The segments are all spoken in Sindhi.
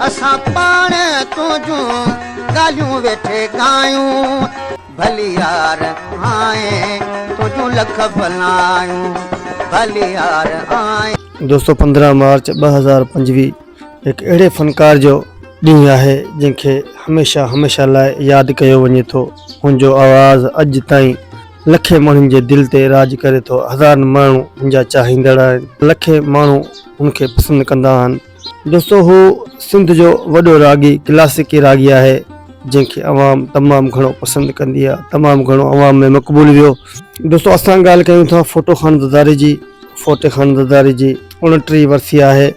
اسان پاڻ تنهنجون ڳالهيون ويٺي ڳايون. ڀلي يار آهين تنهنجون لک بلايون. ڀلي يار آهين. دوستو پندرهن مارچ ٻه هزار پنجويهه هڪ اهڙي فنڪار جو ڏينهن آهي جنهن کي هميشه هميشه لاء ياد ڪيو وڃي ٿو هن جو آواز اڄ تائين لکين ماڻهن جي دل تي راڄ ڪري ٿو هزارن ماڻهو هن جا چاهيندڙ آهن لکين ماڻهو هن کي پسند ڪندا آهن. دوستو هو سنڌ جو وڏو راڳي ڪلاسيڪي راڳي آهي جنهن کي عوام تمام گهڻو پسند ڪندي آهي تمام گهڻو عوام ۾ مقبول ويو دوستو اسان ڳالهه ڪيون ٿا فوٽو خان دداري جي فوٽي خان دداري جي اڻٽيهه ورسي آهي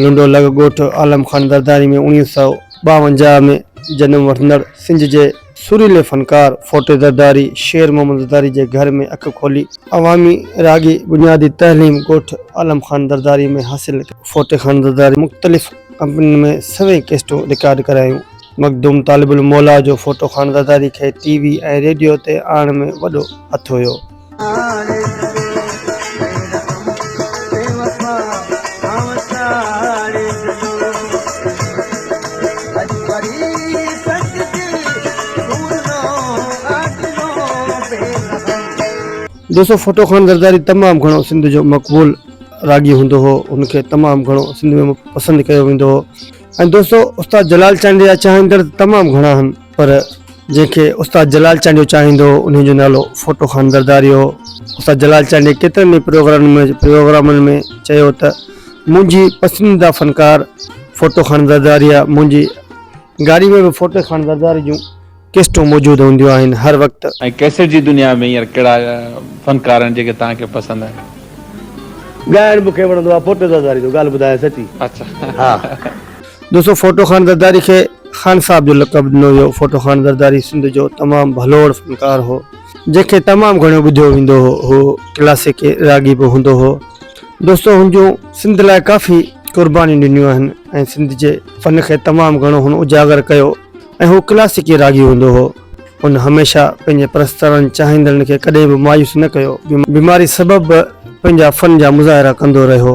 لنڊو لڳ ڳوٺ عالم خان درداري ۾ اوڻيهه سؤ ٻاونجاهه ۾ جنم وٺندڙ سنڌ جي سريلي فنڪار ڦوٽي زرداري شير محمد زرداري جي گهر ۾ اک کولي. عوامي راڳي بنيادي تعليم ڳوٺ عالم خان زرداري ۾ حاصل ڪئي. ڦوٽي خان زرداري مختلف ڪمپنين ۾ سوين ڪيسٽون رڪارڊ ڪرايون. مخدوم طالب الموليٰ جو ڦوٽو خان زرداري کي ٽي وي ۽ ريڊيو تي آڻڻ ۾ وڏو هٿ هيو. دوستو ڦٽو خان زرداري تمام گھڻو سنڌ جو مقبول راڳي هوندو هو ان کي تمام گھڻو سنڌ ۾ پسند ڪيو ويندو هو ۽ دوستو استاد جلال چانڊيا چاهندڙ تمام گھڻا هن پر جنهن کي استاد جلال چانڊيو چاهيندو هو انهيء جو نالو ڦوٽو خان زرداري هو. استاد جلال چانڊيي ڪيترن ئي پروگرامن ۾ چيو ته منهنجي پسنديده فنڪار ڦوٽو خان زرداري آهي. منهنجي گاڏي ۾ به ڦوٽي خان زرداري جون ڪيسٽون موجود هونديون آهن. هر وقت. ۽ ڪيسٽ جي دنيا ۾ هينئر ڪهڙا فنڪار آهن جيڪي توهان کي پسند آهن؟ ڳائڻ مون کي وڻندو آهي ڦوٽي زرداري جو ڳالهه ٻڌايان سچي. اچا. ها. دوستو ڦوٽو خان زرداري کي خان صاحب جو لقب ڏنو ويو ڦوٽو خان زرداري سنڌ جو تمام ڀلوڙ فنڪار هو جنهن کي تمام گهڻو ٻڌيو ويندو هو هو ڪلاسيڪ راڳي به هوندو هو دوستو هن جون سنڌ لاء ڪافي قربانيون ڏنيون آهن ۽ سنڌ جي فن کي تمام گهڻو هن اجاگر ڪيو ۽ هو ڪلاسيڪي راڳي هوندو هو. هن هميشه پنهنجي پرستارن چاهيندڙن کي ڪڏهن به مايوس نه ڪيو. بيماري سبب به پنهنجا فن جا مظاهرا ڪندو رهيو.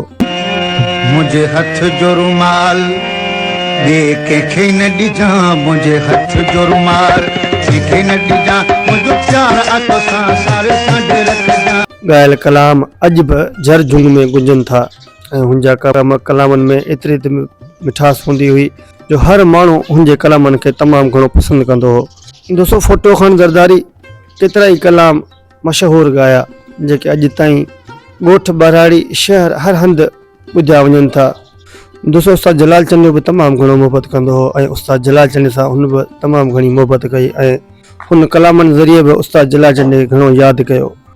منهنجي هٿ جو رومال ٻئي ڪنهن کي نه ڏجان منهنجي هٿ جو رومال ڪنهن کي نه ڏجان منهنجو پيار آ توسان ساري سنڍ رکجان. ڳايل ڪلام اڄ به جهر جهنگ ۾ گونجن ٿا ۽ هن جا ڪلام ڪلامن ۾ ايتري ته مٺاس هوندي هئي. جو هر ماڻهو هن جي ڪلامن کي تمام گهڻو پسند ڪندو هو. دوستو ڦٽو خان زرداري ڪيترائي ڪلام مشهور ڳايا جيڪي اڄ تائين ڳوٺ ٻهراڙي شهر هر هنڌ ٻڌيا وڃن ٿا. دوستو استاد جلال چنيو به تمام گهڻو محبت ڪندو هو ۽ استاد جلال چني سان هن به تمام گهڻي محبت ڪئي ۽ هن ڪلامن ذريعي به استاد جلال چني کي گهڻو ياد ڪيو.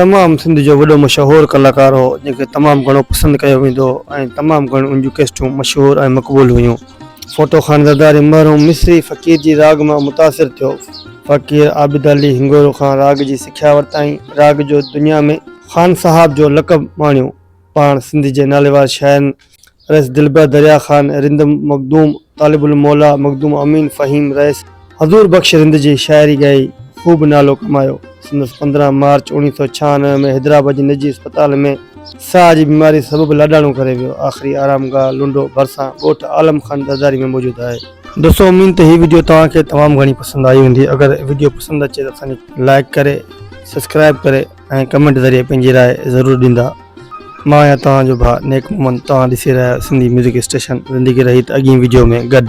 تمام سنڌ جو وڏو مشهور ڪلاڪار هو جنهن کي تمام گهڻو پسند ڪيو ويندو هو ۽ تمام گهڻيون ان جون ڪيسٽون مشهور ۽ مقبول هيون. فوٽو خانزاداري مرحوم مصري فقير جي راڳ مان متاثر ٿيو. فقير عابد علي هنڱورو کان راڳ جي سکيا ورتائين. راڳ جو دنيا ۾ خانصاحب جو لقب ماڻيو. پاڻ سنڌ جي ناليوار شاعرن رئيس دلبر دريا خان، رند مخدوم، طالب الموليٰ، مخدوم امين، فهيم رئيس، حضور بخش رند جي شاعري ڳائي خوب نالو ڪمايو. سندس پندرهن مارچ اوڻيهه سؤ ڇهانوي ۾ حيدرآباد جي نجي اسپتال ۾ ساهه جي بيماري سبب لاڏاڻو ڪري ويو. آخري آرام گاهه لنڊو ڀرسان ڳوٺ عالم خان زرداري ۾ موجود آهي. دوستو اميد ته هي وڊيو توهان کي تمام گهڻي پسند آئي هوندي اگر وڊيو پسند اچي ته اسان کي لائڪ ڪري سبسڪرائب ڪري. ۽ ڪمينٽ ذريعي پنهنجي راء ضرور ڏيندا مان آهيان توهان جو ڀاء نيڪ محمد توهان ڏسي رهيا آهيو سنڌي ميوزڪ اسٽيشن زندگي رهي ته اڳين ويڊيو ۾ گڏ.